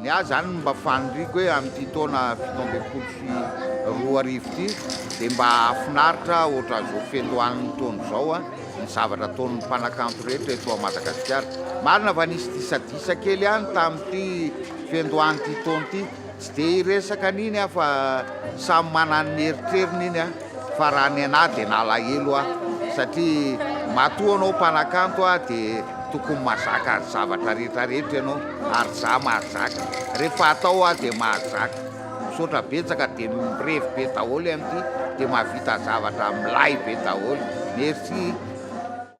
Ny ahy izany no mba faniriako hoe amin'ity taona fito ambin'ny folo sy roa arivo ity dia mba hahafinaritra ohatran'izao fetoanin'ny taona izao ny zavatra ataon'ny mpanakanto rehetra eto Madagasikara. Marina fa nisy disadisa kely ihany tamin'ity fiandohan'ity taona ity, tsy dia hiresaka an'iny aho fa samy manana ny eritreriny iny an! Fa raha ny anah dia nalahelo aho satria matoa ianao mpanakanto dia tokony mazaka ny zavatra rehetra rehetra ianao ary zah mahazaka rehefa atao aho dia mahazaka misaotra betsaka dia mirevy be daholo amin'ity dia mahavita zavatra milay be daholo merci.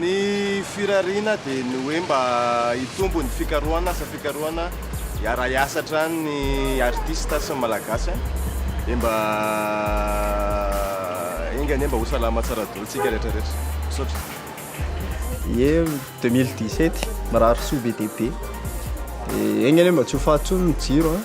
Ny firariana dia ny hoe mba hitombo ny fikarohana, asa fikarohana, hiara-hiasa hatrany ny artista sy ny Malagasy an! dia mba enga anie mba ho salama tsara daholo isika rehetra rehetra! Misaotra. Ie 2017 mirary soa be dia be, dia enga anie mba tsy ho faty intsony ny jiro an!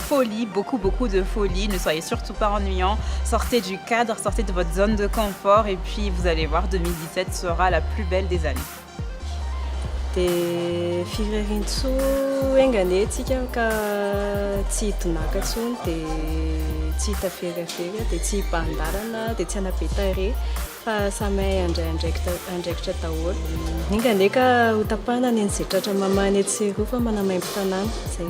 folie, beaucoup beaucoup de folie, ne soyez surtout pas ennuyant, sortez du cadre, sortez de votre zone de confort et puis vous allez voir 2017 sera la plus belle des années. Dia firerintsoa enganie tsika ka tsy hidonaka tsony dia tsy hitaferafera dia tsy hibahan-dalana dia tsy hanabe tarehy fa samy hay handray andraikitra daholo. Enganie ka ho tapahana ny any izay tratra mamahana etsy sy eroa fa manamaimbo tanàna. Izay.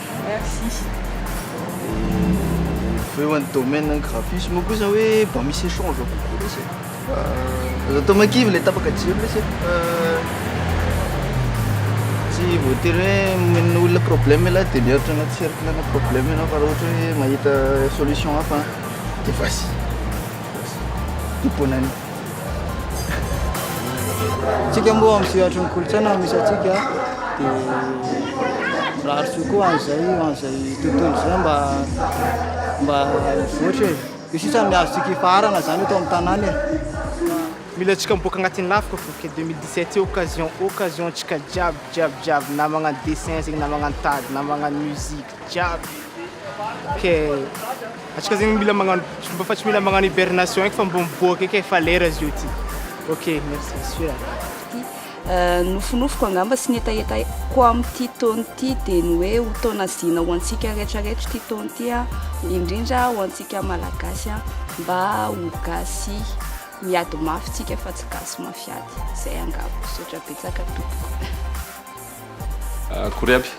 Merci. Fa eo any domaine any graphisme moa kosa hoe mba misy échange kokoa lesy e. Fa aza atao mankivy le tapaka jiro lesy e. Fa tsy voatery hoe omena olona problème ialahy dia mihoatra anaty cercle ana problème ianao fa raha ohatra hoe mahita solution hafa dia vas-y. Vas-y. Tompona any. Tsika moa amin'ny sehatry ny kolontsaina misy antsika dia mirary soa koa an'izay an'izay tontolo izay mba mba mivoatra e. Io sisa ny azontsika ifaharana izany eto amin'ny tanàna e. Mila antsika miboaka agnatin'ny lafika fo ke 2017 io occasion occasion antsika jiaby jiaby jiaby na magnano dessin zegny na magnano tady na magnano musique. jiaby ok atsika zegny mila magnano mba fa tsy mila magnano hibernation eky fa mba miboaka eky efa lera zio ty ok merci monsieur a Euh, nofinofiko angamba sy ny hetahetako amin'ity taona ity dia ny hoe ho taona zina ho antsika rehetrarehetra ity taona ity a indrindra ho antsika malagasy a mba ho gasy miady mafy tsika fa tsy gasy mafiady izay angamba misaotra betsaka tompoko Akory aby,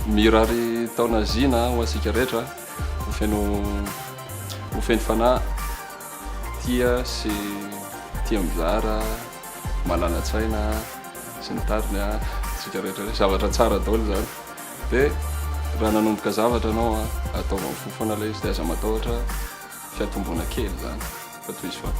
mirary taona zina ho antsika rehetra, ho feno ho feno fanahy, tia sy tia mizara, malala-tsaina sy ny tariny a, antsika rehetra rehetra, zavatra tsara daholo izany, dia raha nanomboka zavatra ianao a, ataovy amin'ny fo foana ilay izy, dia aza matahotra fiatomboana kely izany, fa tohizo foana.